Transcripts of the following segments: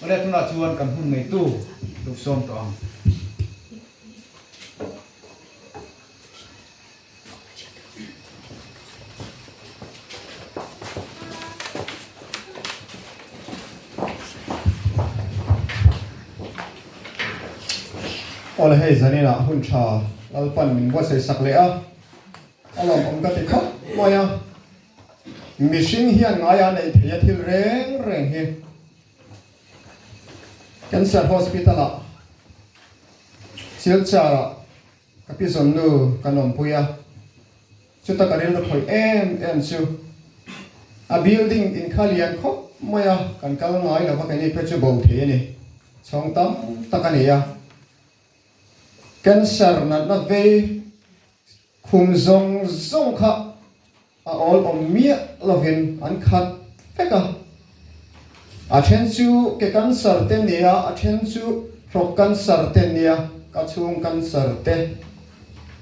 Ria tunah chuan kan hun ngeitu duh sawm tawh ang. Aw le hei zaninah hun tha lalpan min vuasawi sak leh a, a lawmawm ka ti khawp mai a. Mihring hian ngaiha neih theia thil reng reng hi Cancer Hospital ah Silchar ah ka pi zawn nu kan awmpui a, chuta ka rilru khawih em em chu. A building in kha lian khawp mai a, kan kal ngai lo vak eni phe chu bo thei a ni. Chhawng tam tak a ni a. Cancer natna vei. Khum zawng zawng kha a awl awm miah lovin an khat vek a. A then chu ke cancer te nia, a then chu hrok cancer te nia, ka chhung cancer te,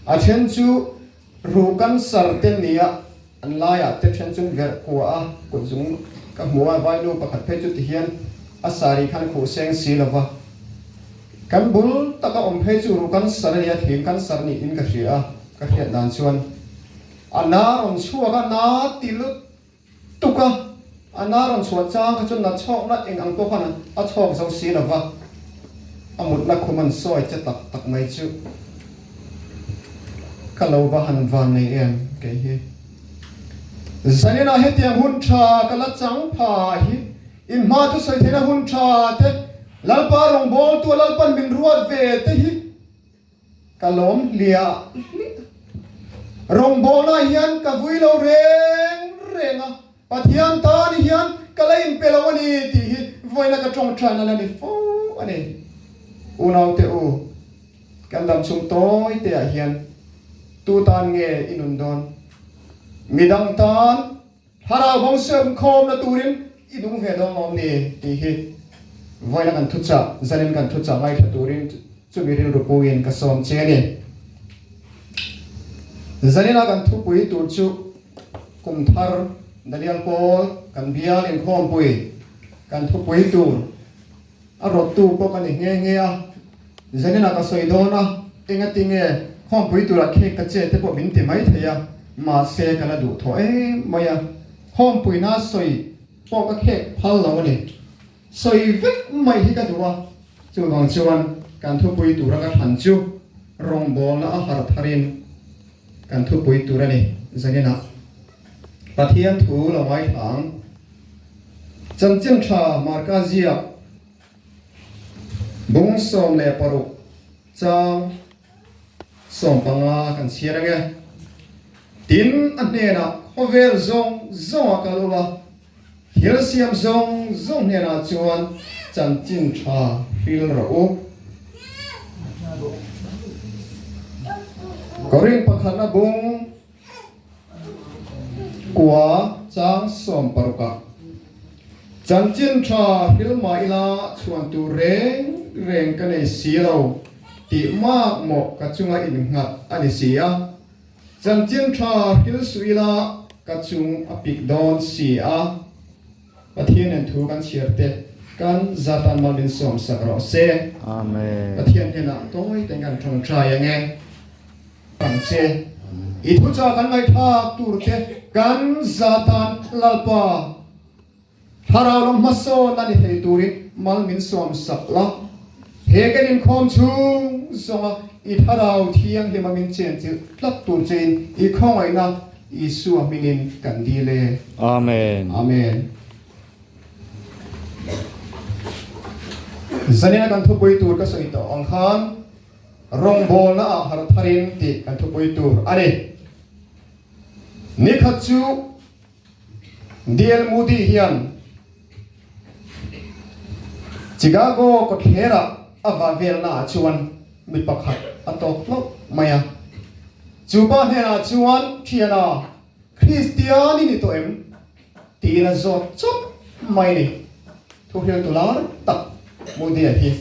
a then chu ruh cancer te nia. An laiah te then chu verh khua a kut zung ka hmu a, vainu pakhat phei chuti hian a saree khan khuh seng si lo va, kan bul taka awm phei chu ru kan sar ania thin kan sar niin ka hria a, ka hriat dan chuan a na rawn chhuak a, na ti lutuk a, A na rawn chhuah chang kha chuan a chhawkna eng ang pawh khan a chhawk zo si lo va, a mutna khum an sawi che tak tak mai chu. Ka lo va han vannei em kei hi. Zanina hetiang hun tha ka la chang pha hi in hma chu sawi theihna hun tha te, Lalpa rawngbawltu a lalpan min ruat ve te hi Ka lawm hlia hliah. Rawngbawlnah hian ka vui lo reng reng a, Pathian tan hian ka la inpe lo a ni tih hi vawiina ka tawng tan hian a ni fo a ni. Unaute u, kan dam chhung tawi teah hian tu tan nge i nun dawn? Midang tan. Thlarau bawng siam khawmna turin i duh ve dawn awm ni tih hi vawiina kan thu chah, zanin kan thu chah ngaithla turin chumi rilru puiin ka sawm che a ni. Zanina kan thupui tur chu kum thar dalial pawl kan bial inkhawmpui kan thupui tur, A rawttu pawh ka ni nghe nghe a, Janina ka sawi dawn a, enga ti nge khawmpui tura cake ka che te pawh min ti mai thei a, mahse ka la duh thaw em mai a, khawmpuina sawi pawh ka khek phal lo a ni, sawi vek mai hi ka duh a, chuvang chuan kan thupui tura ka than chu rawngbawlna a har tharin. Kan thupui tur a ni. Zaninah Pathian thu lo ngai thla ang. Chanchin tha Marka ziak, bung sawm leh paruk chang sawm panga kan chhiar ang e. Tin a hnenah khawvel zawng zawng a kal ula Thil siam zawng zawng hnenah chuan chanchin tha hril rawh u. Korin pakhat a bung kua chang sawm parukah chanchin tha hril mah ila chhuan tur reng reng ka nei si lo tih mak mawh ka chunga innghat a ni si a. Chanchintha thil suh ila ka chung a pik dawn si a, Pathianin thu kan chhiar teh, kan zatan mal min sawm sak rawh se. Amen. Pathian hnenah tawi takin kan ṭangṭai ang e. Pang che, i thuchah kan ngaihtlak tur te kan zatan lalpa Thlarau lam hmasawn a ni thei turin mal min suam sak la. He kan inkhawm chhung zawnga i Thlarau Thianghlimah min chenchilh tlat tur cheiin i khawngawihna Isua hmingin kan dil e. Amen. Amen. Zanina kan thupui tur ka sawi tawh ang khan rawngbawlna ah hartharin tih kan thupui tur a ni. Nikhat chu. DL Moody hian Chicago kawtthlerah a va velnaah chuan mi pakhat a tawk hlauh mai a. Chupa hnenah chuan, Thiana, Kristian i ni tawh em? tiin a zawt chauh mai a ni. Thuhril tu lar tak Moody-a hi.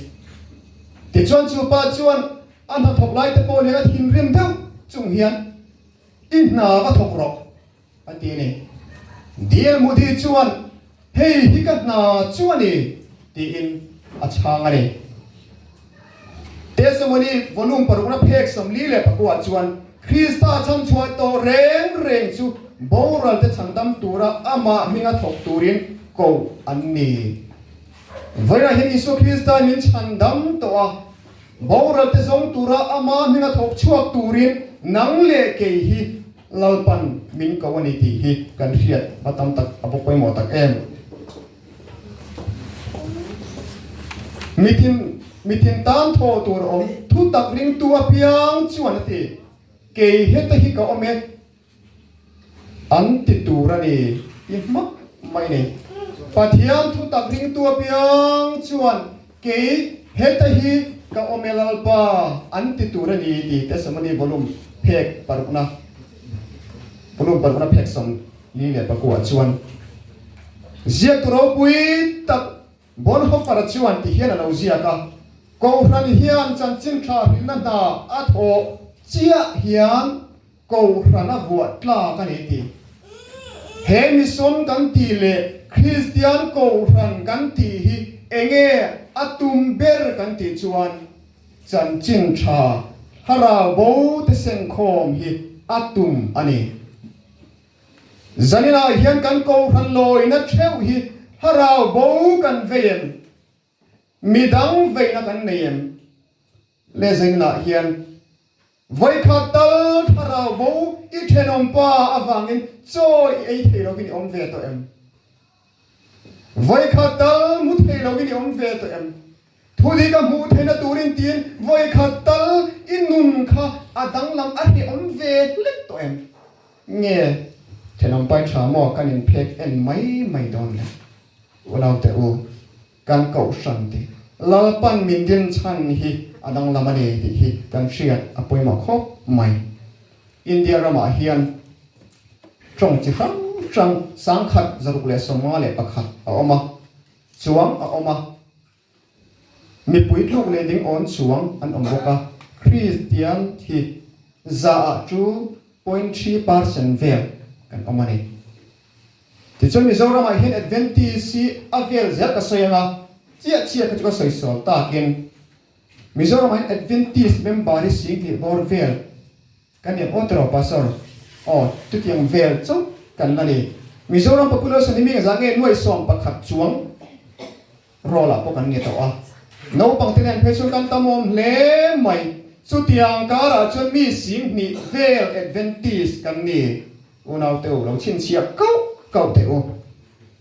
Tichuan chupa chuan a hnathawk laite pawh leh a thinrim deuh chung hian, I hna ka thawk rawh, A ti a ni. Dear Modi chuan hei hi ka hna chu a ni tiin a chhang a ni. Testimony volume paruk na phek sawmli leh paku ah chuan Krista chhanchhuah tawh reng reng chu boral te changdam tura amah hminga thawk turin ko an ni. Vawilah hian Isua Krista min chhandam tawh a, boral te zawng tura amah hminga thawk chhuak turin nang leh kei hi Lalpan min ko a ni tih hi kan hriat hma tam tak a bawk pawimawh tak em! Mithin mithin tan tho tur a awm, thu tak ringtu apiang chuan a ti, Kei hete hi ka awm e an ti tur a ni i hmak mai ni. Pathian thu tak ringtu apiang chuan. Kei heta hi ka awm e Lalpa an ti tur a ni tih testimony volume phek parukna volume parukna phek sawm li leh pakuah chuan ziaktu ropui tak Bonhoeffer-a chuan ti hian a lo ziak a, Kohhran hian chanchin thlahhrilhna hna a thawh chiah hian, Kohhran a vuah tlak a ni tih. He mission kan tih leh Kristian kohhran kan tih hi eng nge a tum ber kan tih chuan chanchin tha thlarau bo te sengkhawm hi a tum a ni. Zaninah hian kan kohhran lawina theuh hi thlarau bo kan vei em? Mi dang veina kan nei em? Le zei nanah hian vawikha tal thlarau bo i thenawm pa avangin chawi i ei thei lovin i awm ve tawh em? Vawikha tal hmu thei lovin i awm ve tawh em? Thudik a hmuh theihna turin tiin vawikha tal i nun kha a danglam a hrehawm ve hlet tawh em? Nge thenawm pai tha maw kan in phek en mai mai dawn le unaute u kan kohhran tih Lalpan min din chhan hi a danglam a ni tih hi kan hriat a pawimawh khawp mai. India ramah hian tawng chi hrang hrang sangkhat zaruk leh sawmnga leh pakhat a awm a, chuang a awm a. Mipui tluk leh ding awn chuang an awm bawk a, Kristian thi zaah chu point hri par sen vel kan awm a ni. Tichuan Mizoramah hian Adventist hi a vel zel ka sawi ang a, chiah chiah kha chu ka sawi sual takin Mizoramah hian Adventist member hi singtih bawr vel, Kan en aw tawh lo Pastor. Aw, chutiang vel chauh kan la ni. Mizoram population hi mingzah nge nuai sawm pakhat chuang rawlah pawh kan nge tawh a. Naupang te nen phei chuan kan tamawm hle mai. Chutiang karah chuan mi sing hnih vel Adventist kan ni. Unaute u lo chhinchhiah kauh kauh teh u.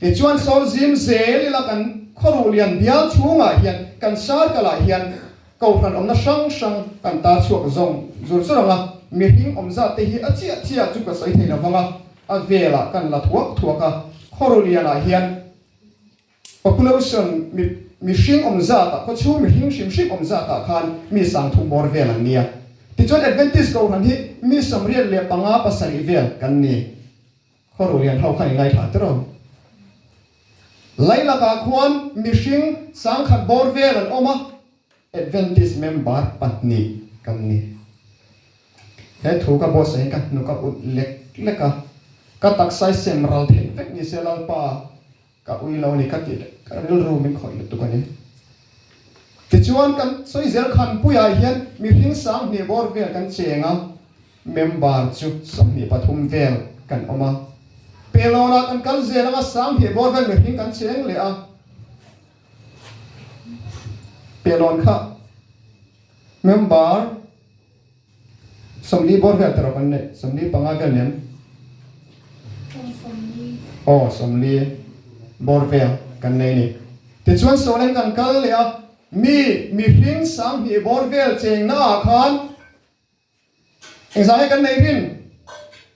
Tichuan Sawmzim zel ila kan khawruh lian bial chhungah hian kan circle ah hian kohhran awmna hrang hrang kan tar chhuak zawng zur chu rang a, mihring awm zat te hi a chiah chiah chu ka sawi thei lo vang a, a velah kan la thuak thuak a, khawruh lianah hian. Population, mi, mihring awm zata, khawchhung mihring hrim hrim awm zata khan mi sangthum bawr vel an nia. Tichuan Adventist Gohran hi mi samriat leh panga pasarih vel kan ni. Khaw-ru lian ho khan i ngaithla tir aw. Lailakah khuan mihring sangkhat bawr vel an awm a, Adventist member pahnih kan ni. He thu ka boss ahin ka hnuk a ut lek lek a, ka taksa i sem ral theih vek ni se Lalpa. Ka ui lo a ni ka tih leh ka rilru min khawih lutuk a ni. Tichuan kan sawi zel khan puiah hian mihring sanghnih bawr vel kan cheng a, member chu sawmhnih pathum vel kan awm a. Pelawnah kan kal zel anga sanghnih bawr vel mihring kan cheng leh a. Pelawn kha member. Sawmli bawr vel te rawh kan neih. Sawmli panga vel nem. Aw sawmli. Aw sawmli bawr vel kan nei ni. Tichuan Sawlen kan kal leh a, mi mihring sang hnih bawr vel chengna ah khan engzange kan nei rin?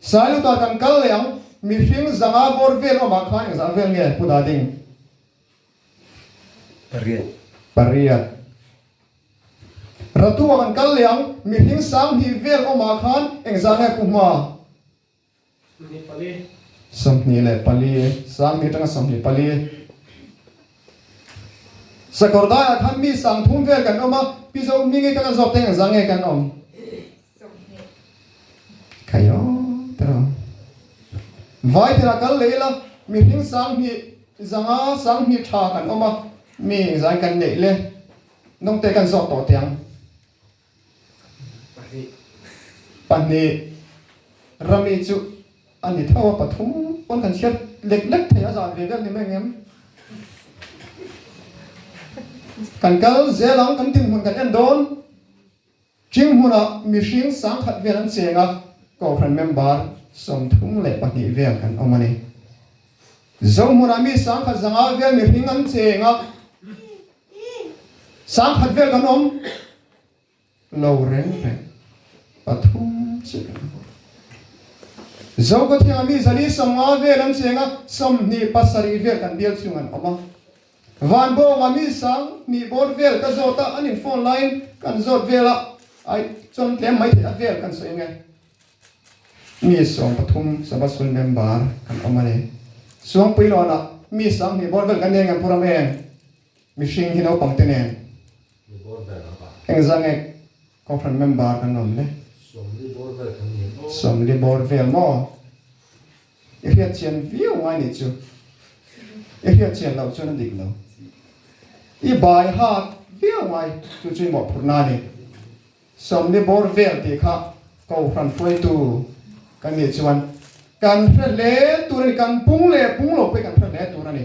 Sailu ta kan kal leh ang, mihring zanga bawr vel awmah khan engzah vel nge pu dah ding? Pariat. Pariat. Ratu a kan kal leh ang, mihring sang hnih vel awmah khan engzah nge pu hma? Sawmhnih pali. Sawmhnih leh pali, sang hnih atanga sawmhnih pali. Sakawr daiah khan mi sang thum vel kan awm a, pi Zomi nge kan la zawk teng engzah nge kan awm? Vai thera kal leh ila, mihring sang hnih zanga sang hnih tha kan awm a, mi engzai kan neih le nawngte kan zawh tawh tiang. Pahnih, Rami chu a ni tho a, pathum pawn kan chhiat lek lek thei a, zan ve ber ni meng em? Kan kal zel ang, kan dinhmun kan en dawn. Ching hmunah mihring sangkhat vel an cheng a, Kohhran member sawmthum leh pahnih vel kan awm a ni. Zo hmunah mi sangkhat zanga vel mihring an cheng a, sangkhat vel kan awm lo reng reng, pathum che kan hmu. Zo khawthianga mi zali sawmnga vel an cheng a, sawmhnih pasarih vel kan bial chung an awm a. Vanbawnga mi sang hnih bawr vel ka zawt a, an in phone laiin ka an zawt vel a, ai chuan tlem mai theih a vel ka an sawi nge. Mi sawm pathum Sabha Sul member kan awm a ni. Suang pui lawn ah mi sang hnih bawr vel kan nen nge pu ram eng? Mihring hi naupang te nen eng zang ek? Kawnghren member kan awm le? Sawmli bawr vel maw? I hriatchian viau ngai ni chu. I hriatchian loh chuan a dik lo. I bai hak viau ngai chu chu i mawhphurh na a ni. Sawmli bawr vel tih kha ko hran hruaitu kan nih chuan kan hre hle tur a ni. Kan pung leh pung lo pawhin kan hre hle tur a ni.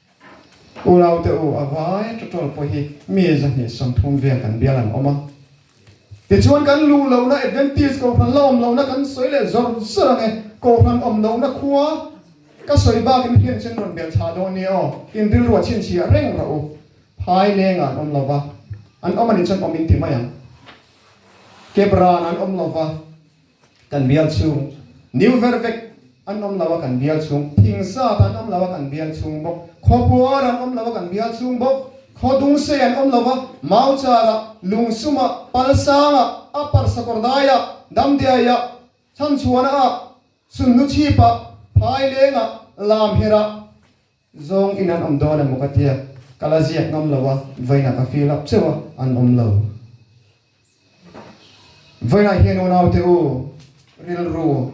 U Laute U a vai ṭaṭawl pawh hi mi zahnih sawmthum vel kan bial an awm a. Tichuan kan luh lohna Adventist Kohhran la awm lohna kan sawi leh zawr zawr ang e. Kohhran awm lohna khua ka sawi bakin hlian chin rawn bel tha dawn nia aw. Tin rilruah chhinchhiah reng rawh u. Phai lenga an awm lova. An awm a nih chuan awm in ti mai ang. Kep rana an awm lova. Kan bial chhung New ver vek an awm lo a kan bial chhung Thing sat an awm lo a kan bial chhung bawk Khaw puar an awm lo a kan bial chhung bawk Khaw dung sei an awm lo a Mauchar ah Lung sum ah Palsang ah Upper Sakawrdai ah Damdiai ah Chhanchhuana ah Sunhnuchhip ah Phaileng ah Lamher ah Zawng in an awm dawn emaw ka ti a, ka la ziak ngam lo a, vawiinah ka fir lap cheuh a, an awm lo. Vawiinah hian unaute u rilru,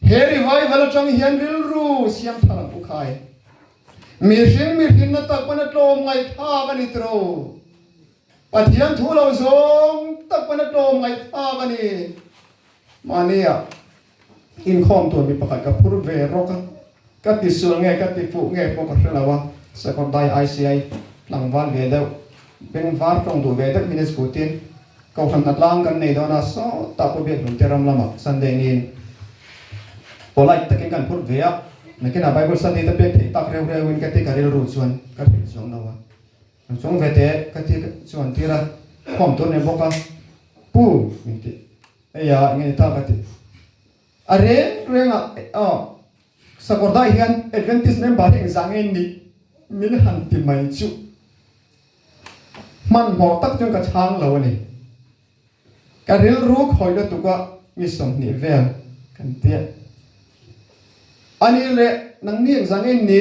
he revival atang hian rilru siamtha lam u khai, mihring mihrinna tak pawn a tlawm ngaihthlak a ni tiro, Pathian thu lo zawng tak pawn a tlawm ngaihthlak a ni. Mahnia Inkhawm tur mi pakhat ka phur ve rawk a, ka ti sual nge ka ti fuh nge pawh ka hre lo a, Sakawrdai ICI tlangval ve deuh, bengvar tawng duh ve deuh hi nge chu tin? Kohhran hna tlang kan nei dawn a, sawtah pawh biahlun te ram lama Sunday niin polite takin kan phur ve a, nakinah Bible study te pek theih tak reu reuin ka ti ka rilru chuan ka hrilh chuang lo a, Rawn chhung ve teh ka ti chuan tira khawm tur ni bawk a, Pu! min ti. Hei a, enge ni ta ka ti? A reng reng a, aw, sakawrdaih hian Adventist member hi engzah nge ni? Min han ti mai chuh. Hmanhmawh tak chuan ka chhang lo a ni. Ka rilru khawih lutuka mi sawmhnih vel kan tia. Ani le, nangni engzah nge ni?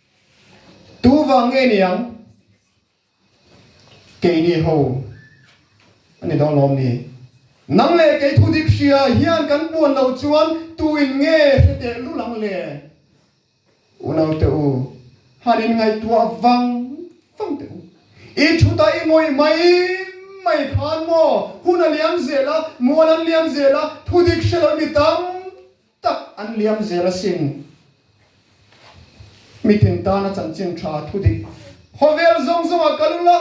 Tu vang nge ni ang? Kei ni ho a ni dawn lawm ni? Nang leh kei thu dik hria hian kan buan lo chuan tuin nge hre teh lul ang le? U naute u, han in ngaihtuah vang vang teh u. I thut a i ngawih mai mai khan maw hun a liam zel a, mual an liam zel a, thu dik hre loh mi tam tak an liam zel asin meeting tan a chanchin tha a thu dik. Khawvel zawng zawngah kal ula,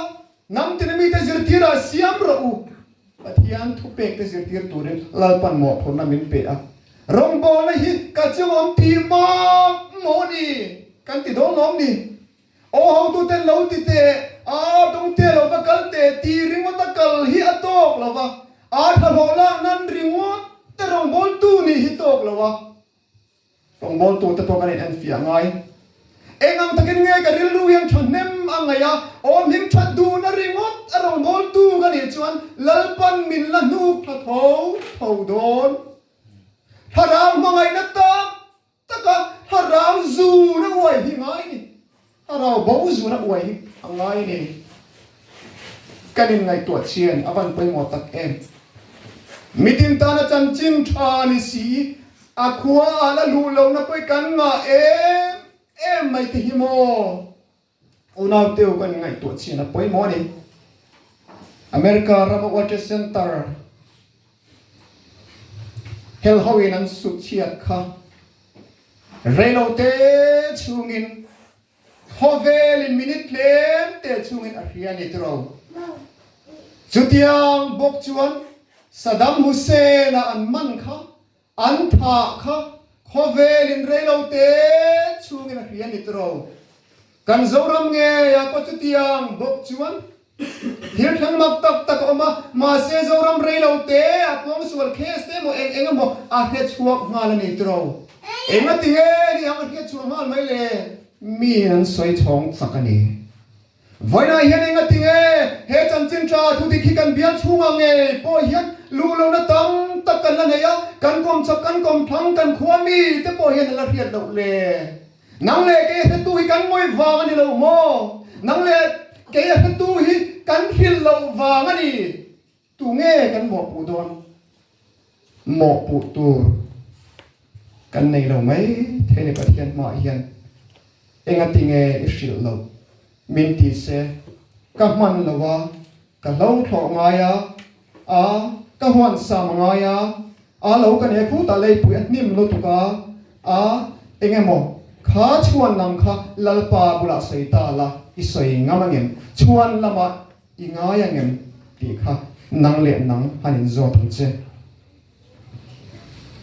hnam tina mite zirtirah siam rawh u. Pathian thupek te zirtir turin Lalpan mawhphurhna min pe a, rawngbawlna hi ka chungawm ti mak maw ni? kan ti dawn lawm ni. Aw hotuten lo ti teh a tawng teh lo ka kal teh ti ringawt a kal hi a tawk lo va, a thlahlawh lak nan ringawt te rawngbawl tu nih hi tawk lo a, rawngbawl tu te pawh kan in en fiah ngai eng ang takin nge ka rilru hian thahnem a ngaih a, awm him that duh na ringawt a rawngbawl tu ka nih chuan Lalpan min la hnuk thla tho tho dawn, thlarau hmangaihna tak Taka a rau zur a uai hi ngai ni, a rau bo zur a uai hi a ngai ni. Kan in ngaihtuah chian a van pawimawh tak em. Mitin tana chanchin tha ni si i a khua ah la luh lohna pawh i kan ngah em em mai te hi maw? Unaute-u kan ngaihtuah chhin a pawimawh a ni. America rama World Trade Center hel hoin an sut chhiat kha reilote chhungin khawvelin minute tlemte chungin a hria a ni tiro. Chutiang bawk chuan Saddam Hussein-a an man kha An thah kha khawvel in reilo te chhung in a hria ni turo. Kan Zoram ngeia pawh chutiang bawk chuan thil thleng mak tak tak a awm a, mahse Zoram reilo te a puang sual case te emaw eng eng emaw a hria chhuak nghal a ni turo. Engatinge ni ang a hria chhuah nghal mai le? Mi in an sawi chhawng chak a ni. Vawiinah hian engatin e he chanchin ṭaa thudik hi kan bial chhungah ngei pawh hian luh lohna tam tak kan la neih a, kan kawm chhap, kan kawm thlang, kan khua mi te pawh hian a la hriat loh le. Nang leh kei a hretu hi kan ngawih vang a ni lo maw? Nang leh kei a hretu hi kan hrilh loh vang a ni. Tunge kan mawhpuh dawn? Mawhpuh tur kan nei lo maithei ni Pathian hmaah hian engatinge i hrilh loh? Min ti se, Ka hman lo a, ka hlongthlawh ngai a, a, ka huansam ngai a, a lo ka nehkhu ta leipuih a hnim lutuk a, a, engemaw kha chhuan lam kha Lalpa bulah sawi ta la i sawi ngam angem? Chhuan lamah I ngai ang em tih kha nang leh nang han in zawt ang che.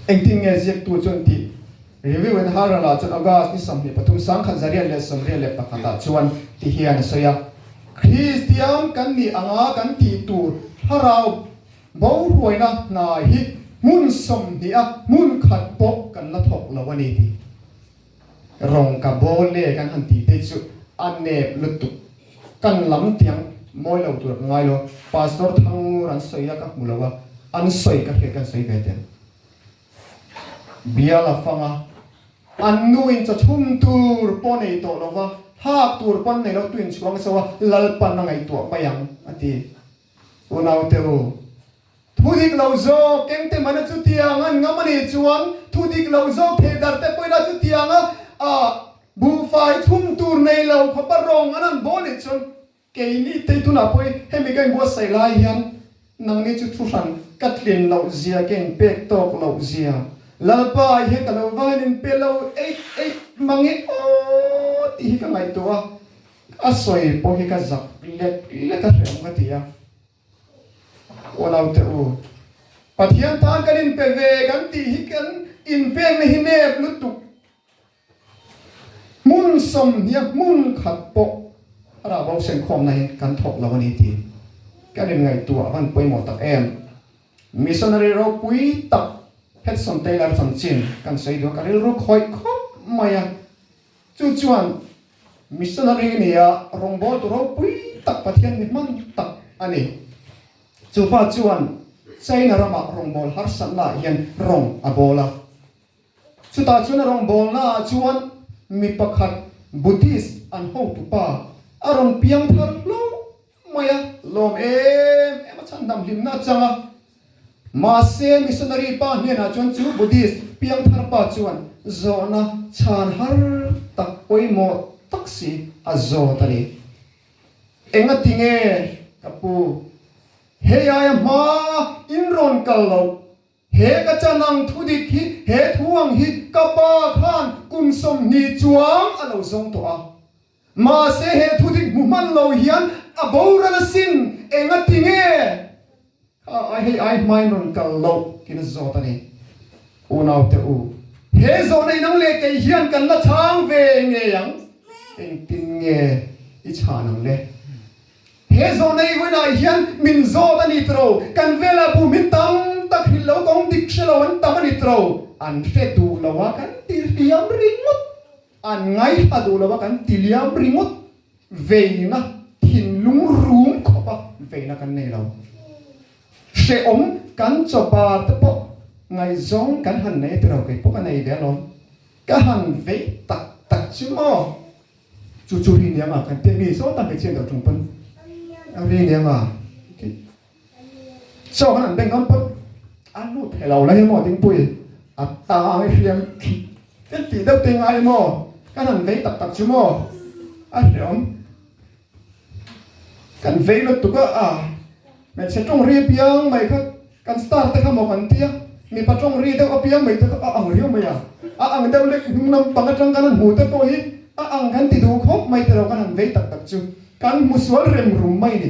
Engtin nge ziaktu chuan tih? Review in har a la chuan August ni sawmhnih pathum sang khat zarial leh sawmrial leh pakhat ah chuan tih hian a sawi a, Kristian kan nih ang a kan tih tur thlarau bohruaina hna hi hmun sawmhnih a hmun khat pawh kan la thawk lo a ni tih. Rawng ka bo ne kan han tih te chu a nep lutuk. Kan lam tiang mawi lo tur ka ngai lo. Pastor Thangngur an sawi a ka hmu lo a, an sawi ka hriat hian an sawi ve tel. Biala fanga an nu in chawchhum tur pawh nei tawh lova, hak tur pawh an nei lo tu in chhuang chauh a, Lalpan a ngaihtuah mai ang a ti. U Naute u, thu dik lo zawk engte mahna chutiang an ngam a nih chuan thu dik lo zawk thei dar te pawh ila chutiang a ah buhfai chhung tur nei lo khawpa rawng an han baw nih chuan kei ni tei tunah pawh hi hemi ka inbuatsaih lai hian nangni chu thu hran ka tlin loh zia ka inpek tawk loh zia Lalpa ah hian ka lo va han inpe lo eih eih mange aw tih hi ka ngaihtuah a. A sawi pawh hi ka zak let let a hreawm ka ti a, aw naute u, Pathian tan kan inpe ve kan tih hi kan inpekna hi nep lutuk, hmun sawmhnia hmun khat pawh a rabo senkhawmna hi kan thawk lo a ni tiin ka rin ngaihtuah a van pawimawh tak em. Missionary ropui tak Hudson Taylor chanchin kan sawi duh a, ka rilru khawih khawp mai a, Chu chuan missionary a nia rawngbawl tu ropui tak Pathian ni hman tak a ni. Chu pa chuan China rama rawngbawl harsatnaah hian rawng a bawl a. Chutah chuan a rawngbawlnaah chuan mi pakhat Buddhist an hotupa a rawn piang thar hlo mai a lawm em em a chhan dam hlimna a chang a, mahse missionary pa hnenah chuan chu Buddhist piangthar pa chuan zawhna chhan har tak pawimawh tak si a zawt a ni. Engati nge ka pu, hei ai a hma in rawn kal loh, he ka chanang thu dik hi he thu ang hi ka pa khan kum sawmhnih chuang a lo zawng tawh a, Mahse he thudik hmu hman lo hian a boral a sin, eng a ti nge? Kha ai hei ai hmain rawn kal loh tiin a zawt a ni. Unaute u, he zawhna in ang le kei hian kan la chhang ve ngei ang, engtin nge i chhan ang le? He zawhna i vawiin ai hian min zawt a ni tro, kan velah bu min tam tak hril lo, kawng dik hre lo an tam a ni tro, an hre duh lo a kan tih hliam ringawt. An ngai ta duh lova kan ti liam ringawt veina thinlung rum khawpa veina kan nei lo. Hrehawm kan chawbar te pawh ngaihzawng kan han nei tilo keipawh ka nei ve alawm. Ka han vei tak tak chu maw? Chu chu ri nianga kan tia mi zawng ta hmeichhia dah chung pawn ri nianga. Chaw khan an beng hlawm pawt, an lut thei lo lai emaw ding puii a tang a hriam khi thil tih deuh te i ngai emaw ka han vei tak tak chu maw a hriawm kan vei lut tuk a a hmeichhe tawngri piang mai kha kan star te kha maw kan tia mipa tawngri deuh apiang mai te kha a ang riau mai a a ang deuh lek hnung lam pang atang kan han hmu te pawh hi a ang kan ti duh khawp mai te lo kan han vei tak tak chu kan hmu sual rem rum mai ni.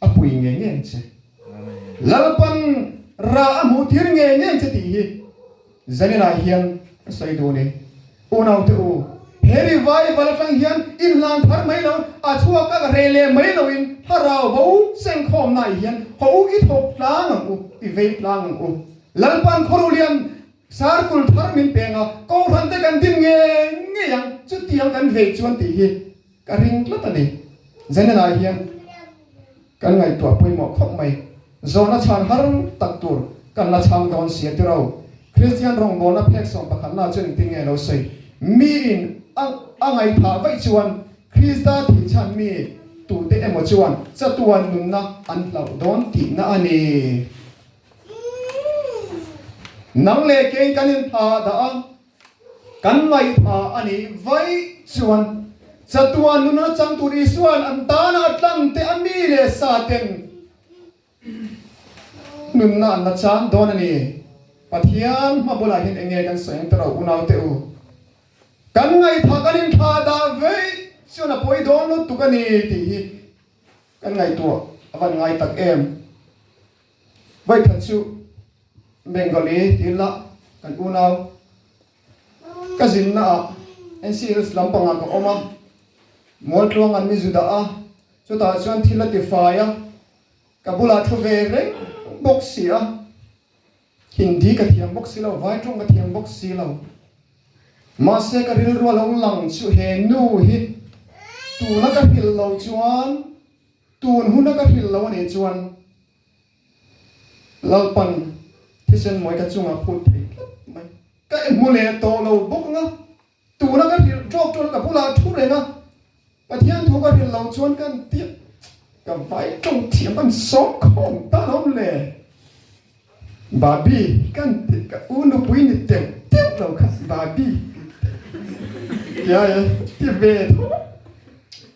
A pui ngei ngei che. Lalpan ra a hmuh tir ngei ngei che tih hi Zanina hian ka sawi dun e. Unaute u, he revival atang hian inhlan phar mai lo, a chhuak a ka hreh leh mai lo in thlarau bo chengkhawmnaih hian haw u, i thawk tlang ang u, i vei tlang ang u. Lalpan khaw ruhlian sarkul thar min peng a, Kohhran te kan din ngei ngei ang, chutiang kan vei chuan tih hi. Ka ring tlat a ni. Zenenah hian kan ngaihtuah pawimawh khawp mai. Zawhna chhan har tak tur kan la chhang dawn si a ti rau. Kristian rawngbawlna phek sawm pakhatnaah chuan engtin nge lo sawi? Miin a a ngaithah vaih chuan Krista thih chhan mi tute emaw chuan chatuan nunna an hlauh dawn tihna a ni. Nang leh keiin kan inthla dah a. Kan ngaihpha a ni vaih chuan chatuan nunna chang tur Isua'n an tana a tlangte a mi leh sa ten nunna an la chang dawn a ni. Pathian hma bulahin enge kan sawi ang te rawh, unaute u. Kan ngaihpha kan inthlah dah vaih chuan a pawi dawn lutuk a ni tih hi kan ngaihtuah a van ngai tak em. Vaitha chu Bengali tiin la kan unau. Ka zinna ah NC Hills lam panga ka awm a, Mualtluang an mizu dah a, chutah chuan thil a tifai a, ka bulah thu ve reng bawk si a, Hindi ka thiam bawk si lo, Vaiṭawng ka thiam bawk si lo. Mahse ka rilru a lo lang chu he nu hi tuna ka hrilh loh chuan, Tun huna ka hrilh lo a nih chuan Lalpan thisen mawi ka chungah a phut phei tlat mai. Ka i hmu leh tawh lo bawk ang a, tuna ka hrilh tawk chuan ka bulah a thu reng a, Pathian thu ka hrilh lo chuan kan tih ka vai to thiam kan sawm khawm tan awm le. Babi kan tih ka u nupui ni teuh teuh lo kha Babi kan tih. Yaya ti ve tho.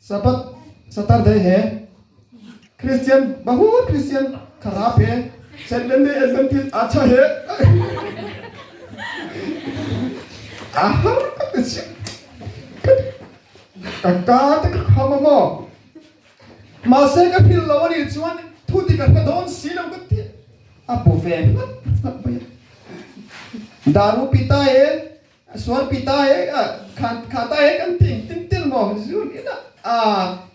Sabat, Saturday he Christian mahut Christian khara phe Seventh Day Adventist a tha he a har ka ti si ka ka te ka kham a maw mahse ka phil lo ani chuan thu ti ka hre dawn si lo ka ti a bu ve hlat hlat mai a Daru Pita e A sual pi ta e a kha kha ta e kan ti tin tel maw zun ila a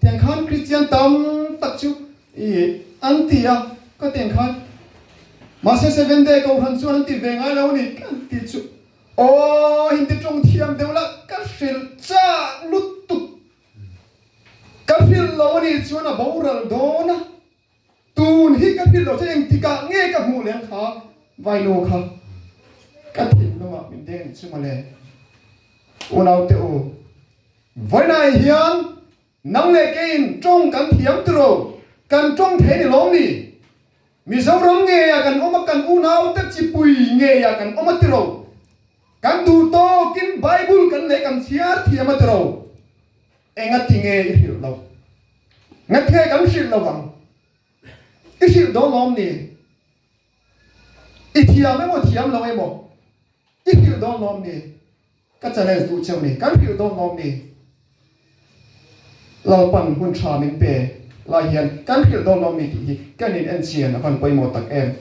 tiang khan Kristian tam tak chu i an ti a ka tiang khan mahse seven day kohhran chuan an ti ve ngai lo ni kan ti chu aw hindi tawng thiam deuh lah ka hrilh chak lutuk ka hrilh lo a nih chuan a boral dawn a. Tun hi ka hrilh lo che eng tikah nge ka hmuh leng kha vainu kha ka thinlungah min deng chu mawle. Unaute u, vainai hian nang leh keiin tawng kan thiam turo, kan tawng thei ni lawm ni? Mizoram ngeia kan awm a, kan unaute chipui ngeia kan awm a tiro, kan duh tawkin Bible kan leh kan chhiar thiam a tiro. Enga tinge i hrilh lo? Ngatge kan hrilh lo ang? I hrilh dawn lawm ni? I thiam emaw thiam lo emaw? I hrilh dawn lawm ni? Ka challenge duh cheu ni? Kan hrilh dawn lawm ni? Lalpan hun tha min pe lai hian kan hrilh dawn lawm ni tih hi kan in enchian a van pawimawh tak em?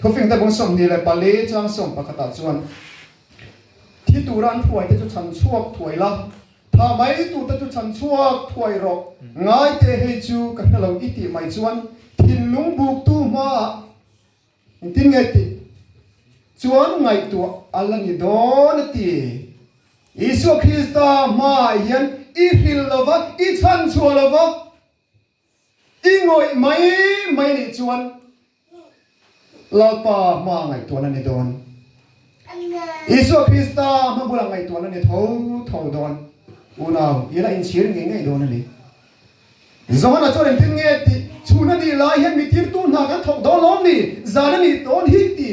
Thufing Tebung Sawmhnih leh Pali Chang Sawm pakhatah chuan thi tura an hruaite chu chhan chhuak thuai la. Tha mai tu te chu chhan chhuak thuai rawh, ngai teh hei chu ka hre lo i tih mai chuan thinlung buk tu hma ah in tin nge tih chuan ngaihtuah a la ni dawn a ti. Isua Krista hma ah hian i hrilh lo va, i chhan chhuah lo va. I ngawih mai mai nih chuan Lalpa hma ah ngaihtuah na ni dawn. Isua Krista hma bulah ngaihtuah na ni tho tho dawn. Unau i la inchhir ngei ngei dawn a ni. Johana chuan engtin nge ti? Chhun a nih lai hian mitirtu hna kan thawk dawn lawm ni? Zan a nih dawn hi ti.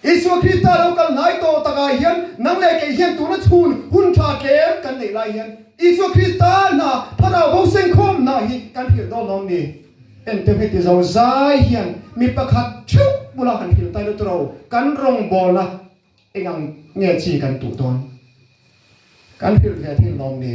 Isua Krista lo kal hnai tawh takah hian nang leh kei hian tuna chhun hun tha tlem kan neih lai hian Isua Krista hna Thlarau ho seng khawm na hi kan hrilh dawn awm ni. Engtiang heti zo zai hian mi pakhat theuh bula han hrilh tai lutuk lo, kan rawngbâwl a engang nge chi kan tuh dawn? Kan hrilh ve thin lawm ni.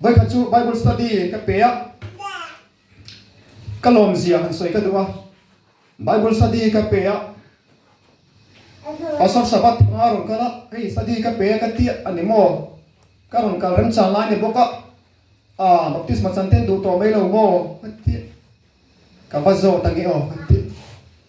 Bawipa chu Bible study ka pe a, ka lawmzia han sawi ka duh a. Bible study ka pe a, Pastor Sabat panga rawn kal a, hei study ka pe a ka ti a, a ni maw? Ka rawn kal remchang lai ni bawk a, Aah, baptisma chante'n duh tawh mai lo maw? ka ti. Ka va zawt a ni aw ka ti.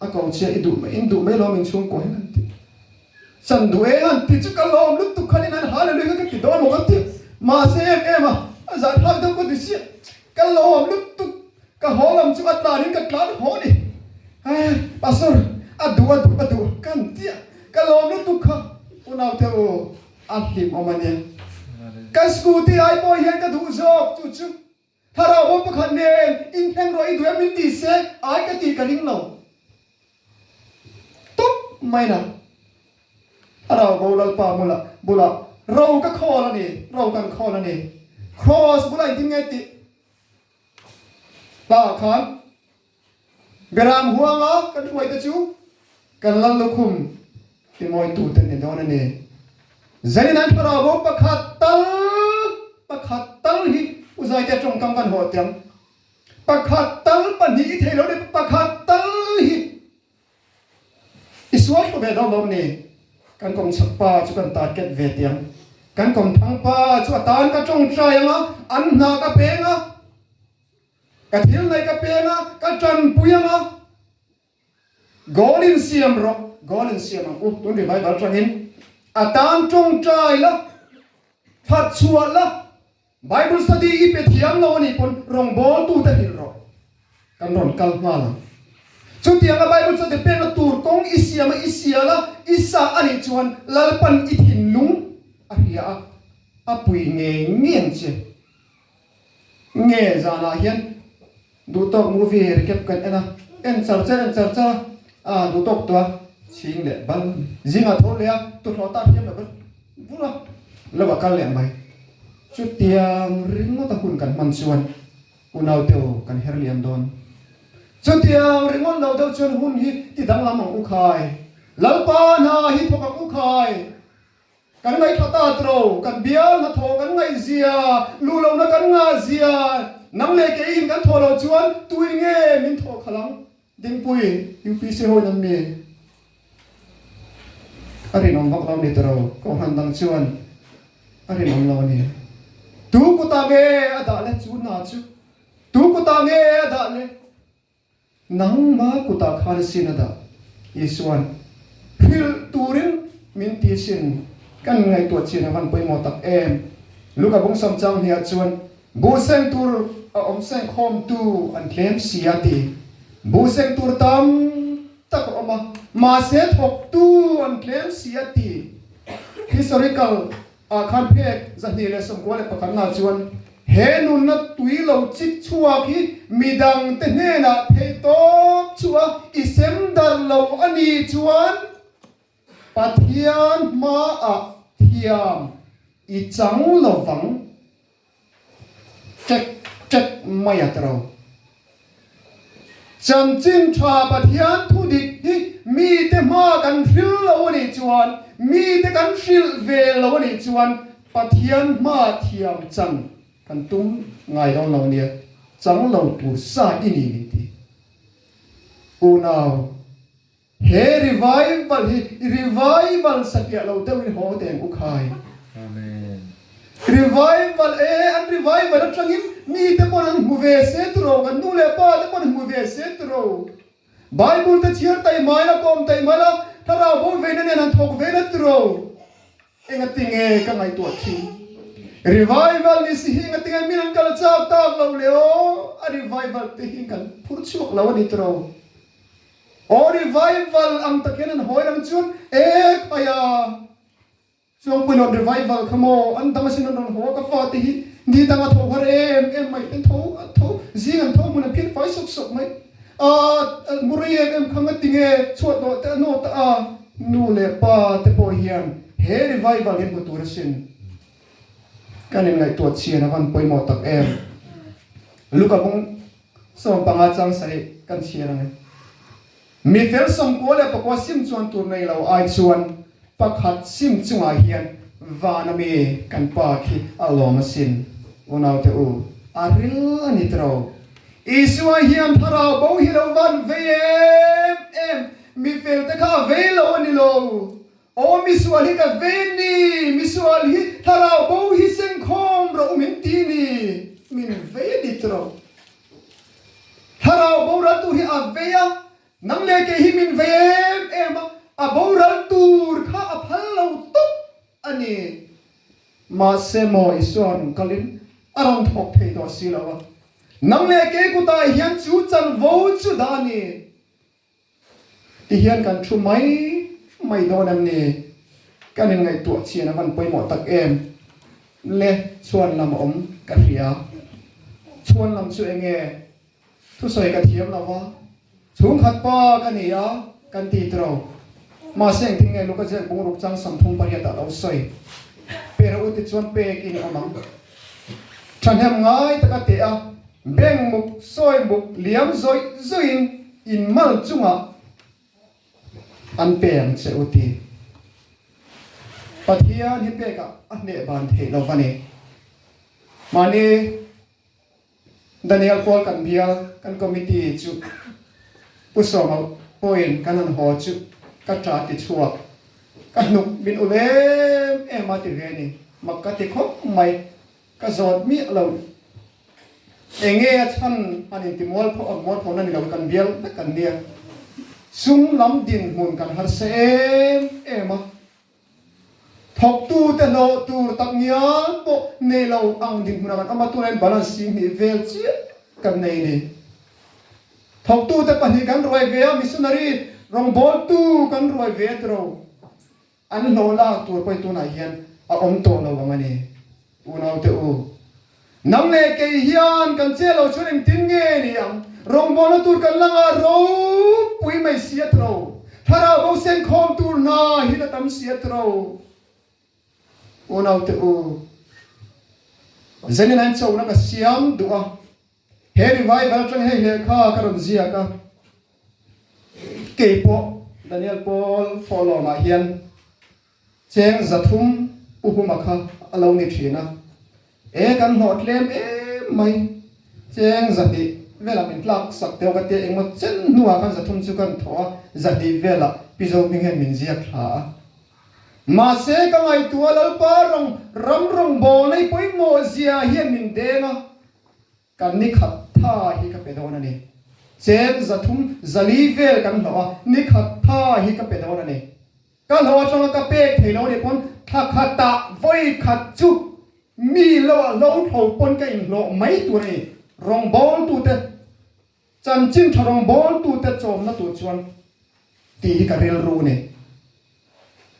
A ko chhia i duh mai in duh mai lo min chhung pawh hian an ti chan duh e han ti chu ka lawm lutuk khan in an hale lui kha ka ti dawn maw ka ti mahse em em a a zan hak deuh ka ti chiah ka lawm lutuk ka haw lam chu a tlan in ka tlan haw a ni aii pastor a duh a duh a duh ka han ti a ka lawm lutuk kha u naute u a hlim awm a nia ka scooty ai pawh hian ka duh zawk chu chu. Thlarau ho pakhat nen in hnem rawh i duai min ti se ai ka tih ka ring lo tawp mai la. Thlarau bo Lalpa mula bulah ro ka khawl a ni, ro kan khawl a ni. Cross bulah in dim nge tih lah khan Garam huanga kan hruaite chu kan lal lukhum timawitute ni dawn a ni. Zeli'n an thlarau bu pakhat tal pakhat tal hi Pu Zaite tawngkam kan haw tiang. Pakhat tal pahnih i theilo ni pakhat tal hi i sual thlu ve dawnlawm ni. Kan kawmchhak pa chu kan target ve tiang. Kan kawmthang pa chu a tan ka tawng try anga an hna ka peng a. Ka thil nei ka peng a, ka tanpui ang a. Goal in siam rawh, goal in siam ang u, tun revival tangin a tan tawng tai la, phat chhuah la, Bible study i pe thiam lo a nih pawn rawng ball tu te hrilh rawh, kan rawn kal nghal ang. Chutiang a Bible study pekna tur kawng i siam a, i sia la, i sa a nih chuan Lalpan i thinlung a hria a, a pui ngei ngei ang che. Nge zanah hian duhtawk movie he recap kan en a, en char che en char char a a duhtawk tua chhing leh bal zingah tho leh a tuhlawh ta thiam lo ka vur a lova kal leh mai chutiang ringawta hun kan hman chuan unaute aw kan her lian dawn chutiang ringawt lo deuh chuan hun hi ti danglam ang u khai lalpa hna hi thawk ang u khai. Kan ngaithla ta tlo, kan bial hna thaw kan ngaih zia, luhlona kan ngah zia, nang leh kei in kan thaw lo chuan tuin nge min thaw khalh ang? Dingpui, UPC ho in an mi a rinawm vak lo ni tlo, Kohhran dang chuan a rinawm lo a ni. Tu kutah nge a dah le chu hna chu? Tu kutah nge a dah le? Nangma kutah khan sin a dah. Isuan, Hrilh turin min ti sin kan ngaihtuah chin a van pawimawh tak em? Luka bungsam chang hnih ah chuan buhseng tur a awmseng khawmtu an tlem si a ti. Buhseng tur tam tak a awm a, mahse thawktu an tlem si a ti. Historical Ah khan phek zahnih leh sawmkua leh pakhatnaah chuan he nunna tui lo chik chhuak hi midang te hnenah theih tawp chu a i sem darh lo a ni chuan Pathian hmaah thiam i chang lovang. Tlek tlek mai a tro. Chanchin tha Pathian thu dik hi mi te hma kan hril lo a nih chuan mi te kan hrilh ve lo a nih chuan Pathian hma thiam chang kan tum ngai dawn lo nia chang lo tur sa i ni min ti unau. He revival hi i revival satliah lo deuh in haw teh ang u khai. Revival e an revival atlangin mite pawh han hmu ve se tu ro, kan nu leh pa te pawh an hmu ve se tu ro. Bible te chhiar taih mai la, kawm taih mai la, thlarau bo veina nen han thawk ve la tu ro. Engatinge ka ngaihtuah thin? Revival ni si hi engatinge min an kal chak tak lo le aw, a revival te hi kan phur chhuak lo a ni tu ro. Aw revival ang takin an hawi ang chuan ek mai a chuang pawhin awn revival kha maw an dang asin an rawn haw a ka fa te hi ni dang a tho har em em mai ten tho tho zing an tho hmun an phian fai sawp sawp mai a mu rei em em kha nga ti nge chhuat loh te a naw ta a nu leh pa te pawh hian he revival hi hmu tur asin kan in ngaihtuah chian a van pawimawh tak em Luka kawng Sawm panga chang sarih kan chhiar a ni. Mi fel sawm kua leh pakua sim chuan tur nei lo ai chuan pakhat sim chungah hian van ami kan pa khi a lawm a sin. Unaute u, a ril a ni tawh rawh. Isua hian thlarau bo hi a lo van vei em em, mi fel te kha a vei lo a ni lo. Aw misual hi ka ven ni, misual hi thlarau bo hi sengkhawm rawh min ti ni, min vei dik rawh. Thlarau boral tur hi a vei a, nang leh kei hi min vei em em a, a boral tur kha a phal lo tawp a ni. Mahse maw i sualnung kalin a rawn thawk thei tawh si lo a, nang leh kei kutah hian chu chanvo chu dah a ni. Ti hian kan thu mai mai dawn em ni? Kan in ngaihtuah chian a van pawimawh tak em le chhuan lam a awm ka hria. Chhuan lam chu eng nge? Thusawi ka thiam lo va, chhungkhat pa ka ni a kan ti tiro. Mahse engtin nge luka zek bungruk chang sam thum pariat ah lo sawi? Pera u ti chuan pek in a awm ang. Thahnem ngai taka teh a, beng muk sawi muk liam zawih zawihin in mal chungah an peng che u ti. Pathian hi pekah a hneh ban theih lo va ni. Mahni. Daniel pawl kan bial kan committee chu Pu Sawmau pawhin kan han haw chu ka ṭa ti chhuak. Ka hnuk min ulh em em a ti ve ni. Mak ka ti khawp mai. Ka zawt miah lo. Enge a chhan an inti mual phawh na ni lo, kan bial vek an nia. Sum lam dinhmun kan harsa em em a. Thawktute hlawh tur tak ngial pawh nei lo ang dik hmun ang an awm a, tuna in balance si hnih vel chiah kan nei ni. Thawktute pahnih kan ruai ve a, missionary rawngbawltu kan ruai ve ti ro. An hlawh lak tur pawh i tunah hian a awm tawh lo ang a ni. Unaute u, nang leh kei hian kan che lo chu reng tin nge ni ang? Rawngbawlna tur kan langa ropui mai si a ti lo. Thlarau bo senkhawm tur hna hi la tam si a ti lo. Unaute u, zengin ain chona ka siam duh a, he Revival atang hei hleh kha ka rawn ziak a. Kei pawh Daniel Paul fawh lawmah hian. Cheng za thum pu huma kha a lo ni thin a, e kan hnawh tlem em mai, cheng za hnih velah min tlak sak teuh ka tia engmaw chen hnungah khan za thum chu kan thawh a, za hnih velah pi zo hming hian min ziak thla a. Mahse ka ngaihtuah Lalpa ram rawng bawnei pawimawh zia hian min deng a. Kan nikhat tha hi ka pe dawn a ni. Chen za thum zali vel kan hlawh a, nikhat tha hi ka pe dawn a ni. Ka hlawh atanga ka pek thei lo ni pawn tha khatah vawi khat chu mi loah hlo tho pawn ka inhlawh mai tur a ni. Rawngbawltute Chanchin tha rawng bawltute chawmna tur chuan ti hi ka rilru nei.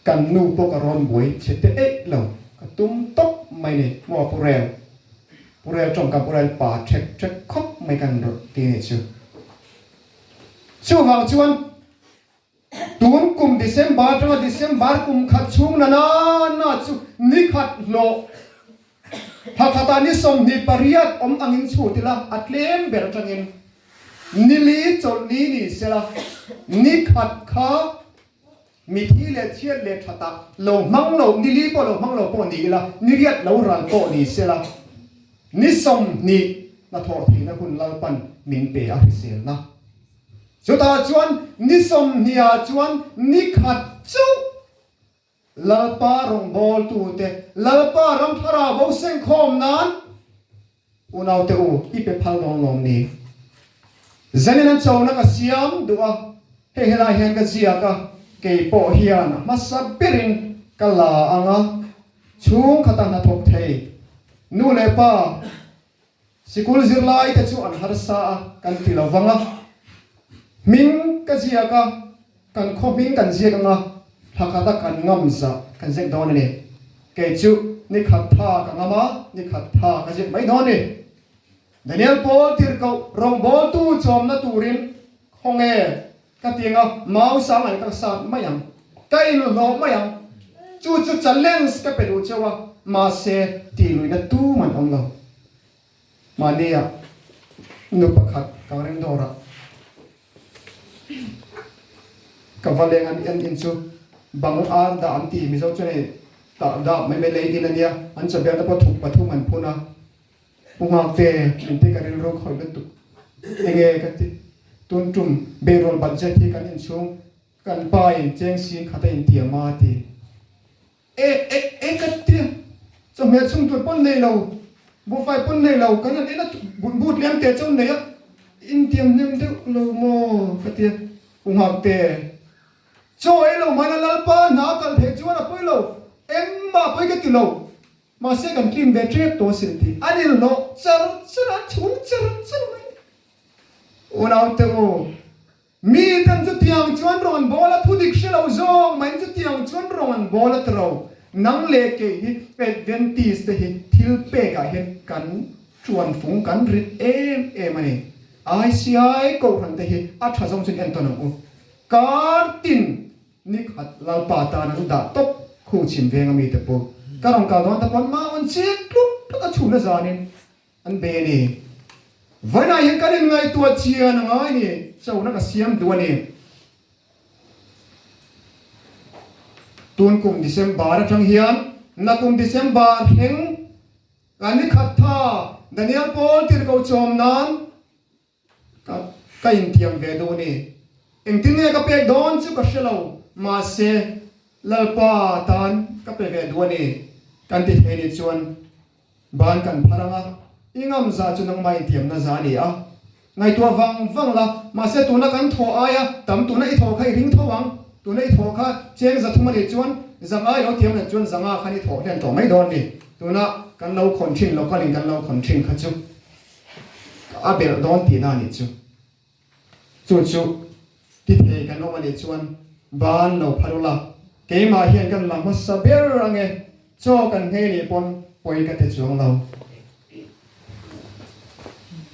Kan nu pawh ka rawn buai chhe teh eih lo, ka tum tawp mai nei. Maw a pu rel, pu rel tawng kan pu rel pa ṭhek ṭhek khawp mai ka rawh ti ni chu. Chuvang chuan. Tun kum December atanga December kum khat chhung na nanna chu ni khat hlawh hla khata ni sawmhnih pariat awm angin chhut ila a tlem ber atangin ni li chawlh ni ni sela ni khat kha mithi leh thiat leh that ah lo hmang lo ni li pawh lo hmang lo pawh ni ila ni riat lo ral pawh ni sela ni sawmhnih hnathawh theihna hun lalpan min pe a hriselna Chutah chuan ni sawmhnia chuan ni khat chauh Lalpa rawngbawltute Lalpa ram thlarau bo sengkhawm nan unaute u i pe phal dawn lawm ni? Zanin an chona ka siam duh a, hei helai hian ka ziak a, kei pawh hian a hmasa berin ka la ang a, chhungkhata hnathawk thei nu leh pa, Sikul zirlaite chu an harsa a kan ti lo vang a, hming ka ziak a, kan khawhming kan ziak anga thla khata kan ngam zah kan ziak dawn a ni. Kei chu ni khat tha ka ngam a, ni khat tha ka ziak mai dawn a ni. Daniel Paul tirhkoh rawngbawltu chawmna turin khawnge Ka ti anga, mau sang an kal sat mai ang, ka inuh hlawh mai ang, chu chu challenge ka pe duh cheu a, mahse tih luihna tum an awm lo. Mahnia nu pakhat kan ring dawrah ka va leng an en in chu bang ar dah an ti, Mizo chuan hei tah dah mai mai lei in ania, an chaw biakna pawh thuk pathum an phun a, Pu Nghakte, min te ka rilru khawih lutuk. Enge ka ti? Tun tum beihrual budget hi kan inchhung kan pain cheng sin khat a inti a maa ti. E e e ka ti a, chawhmeh chhungtur pawn nei lo, buhfai pawn nei lo kan han en a bu tliang teh chauh neih a, i intiam hnem deuh lo maw ka ti a. Pu Nghakte, Chaw ei lo mahna Lalpa hna a kal theih chuan a pawi lo, engmah a pawi ka ti lo. Mahse kan tlim ve tep tawh sin tih a nil hlawh. Char char a chhung char char mai. Unaute u, mi ten chu tiang chuan rawn an bawl a, thu dik hre lo zawng mai chu tiang chuan rawn an bawl a ti ro. Nang leh kei hi Adventist te hi thil pek ah hian kan tuan fung kan rit em em a ni. Aisia e, kohhran te hi a tha zawng chuan en tawn ang u. Kar tin Nick a lalpa atan an dah tawp khu chim veng a mite pawh ka rawn kal dawn ta pawh an mah awn chiat tlup tlup a chhuna zanin an be a ni. Vawiinah hian kan in ngaihtuah chian a ngai ni chona ka siam duh a ni. Tun kum December atang hian na kum December thleng ka nikhat tha Daniel Paul tirhkoh chawm nan Ka ka intiam ve duh a ni. Engtin nge ka pek dawn chu ka hre lo, mahse Lalpa tan ka pe ve duh a ni. Kan ti thei ni chuan ban kan phar ang a, i ngam za chu nangmah intiam na za a ni a, ngaihtuah vang vang la, mahse tuna kan thaw ai a, tam tuna i thaw kha i ring tho ang, tuna i thaw kha cheng za thum a nih chuan zang ai lo tiam let chuan zanga khan i thaw hlen tawh mai dawn a ni. Tuna kan lo khawn thin lokal in kan lo khawn thin kha chu. A belh dawn tihna a nih chu. Chu chu ti thei kan awm a nih chuan van lo phar ula, keimah hian kan la hmasa ber ange, chaw kan ngei nih pawn pawi ka ti chuang lo.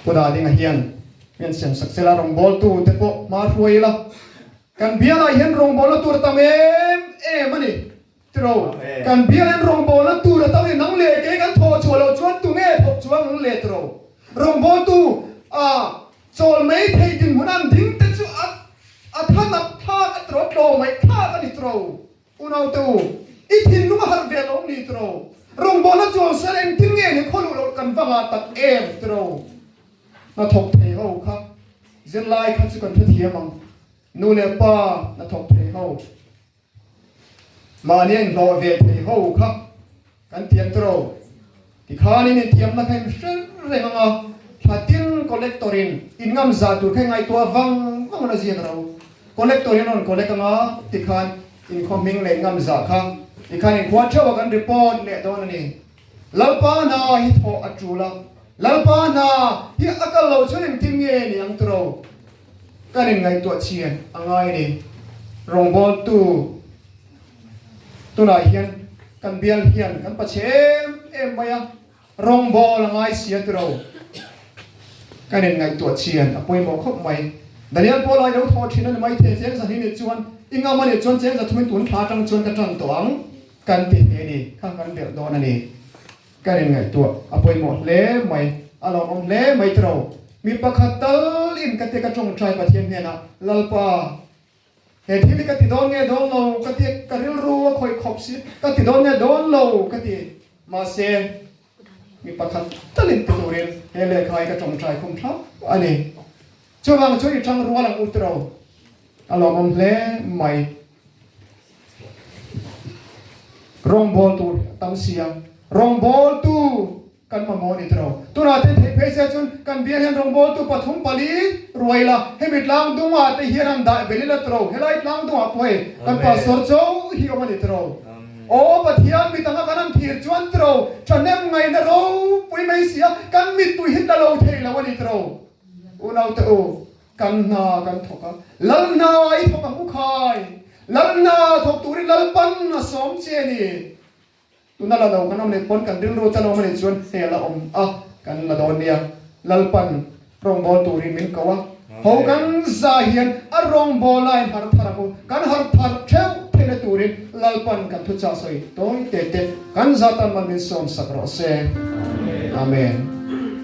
Pu Dadinga hian min siam sak zel a, rawngbawltu te pawh hma hruai ila, kan bialaiah hian rawngbawlna tur tam em em a ni. Tilo, kan bial in rawngbawlna tura to hi nang leh kei kan thaw chhuah lo chuan tunge phawk chu a ngung leh tilo. Rawngbawltu a chawl mai thei dinhmun an ding te chu a a tha nap thlak a tilo, tlaw mai thlak a ni tilo. Unaute u, i thinlung a harh ve lawm ni tilo. Rawngbawlna chawl ser engtin nge nih khaw luh loh kan va ngah tak em tilo. Hnathawk thei ho kha zirlai kha chu kan hrethiam ang. Nu leh pa hnathawk thei ho. Mahni a inhlawh ve thei ho kha kan thiam tiraw ti khan in inthiamna kha in hreng reng anga thla tir collector in in ngam zah tur kha i ngaihtuah vang vang a na ziak ro. Collector in a rawn collect anga ti khan in khawhming leh ngam zah kha ti khan in khuah theuh a kan report leh dawn a ni. Lalpa na hi thawh a tul a, Lalpa na hi a kal lo chuan engtin nge ni ang turo? Ka rawn ngaihtuah chhian a ngai ni. Rawngbawltu tunah hian kan bial hian kan pache em em mai a, rawngbawlh a ngai sia turo? Ka rawn ngaihtuah chhian a pawimawh khawp mai. Daniel pawh lai lo thawh thin a ni maithei, Chengza hnih nih chuan i ngam a nih chuan Chengza thuin tun thla atang chuan ka tan tawh ang. Kan tih te ni kha kan belh dawn a ni. Kan in ngaihtuah a pawimawh hle mai, a lo awm hle mai tawh. Mi pakhat tal in ka ti ka tawngtai Pathian hnenah, Lalpa, he thil hi ka ti dawn nge dawn lo ka ti, ka rilru a khawih khawp si ka ti dawn nge dawn lo ka ti. Mahse, Mi pakhat talin pe turin he lehkha hi ka tawngtai khum thlap a ni. Chuvang chu i chang rual ang u tiro, a lawmawm hle mai. Rawngbawl tur hi a tam sia, rawngbawltu kan mamawh ni tiro. Tunah te theih phei sia chuan kan bial hian rawngbawltu pathum pali ruai la, hemi tlang dungah te hian han daih belila tiro, helai tlang dungah pawh hei kan pahsawr cho hi awm a ni tiro. Aw Pathian, mi danga kan an thir chuan tro tha nem ngaihna ropui mai si a, kan mitpuii hi tla lo thei lo a ni tro. Unaute u, kan hna kan thawk a, lal hna i thawk ang u khai, lal hna thawk tur i lalpan a sawm che ni. Tuna la lo kan awm leh pawn kan rilru ta lo mah ni chuan hel a awm a, kan la dawn nia, lalpan. Rawngbawl turin min ko a, ho kan za hian a rawngbawl aiin har phar a mu. Kan har phar theuh phele turin Lalpa'n kan thuchah sawi tawi tete kan za tan man min sawmsak rawh se. Amen.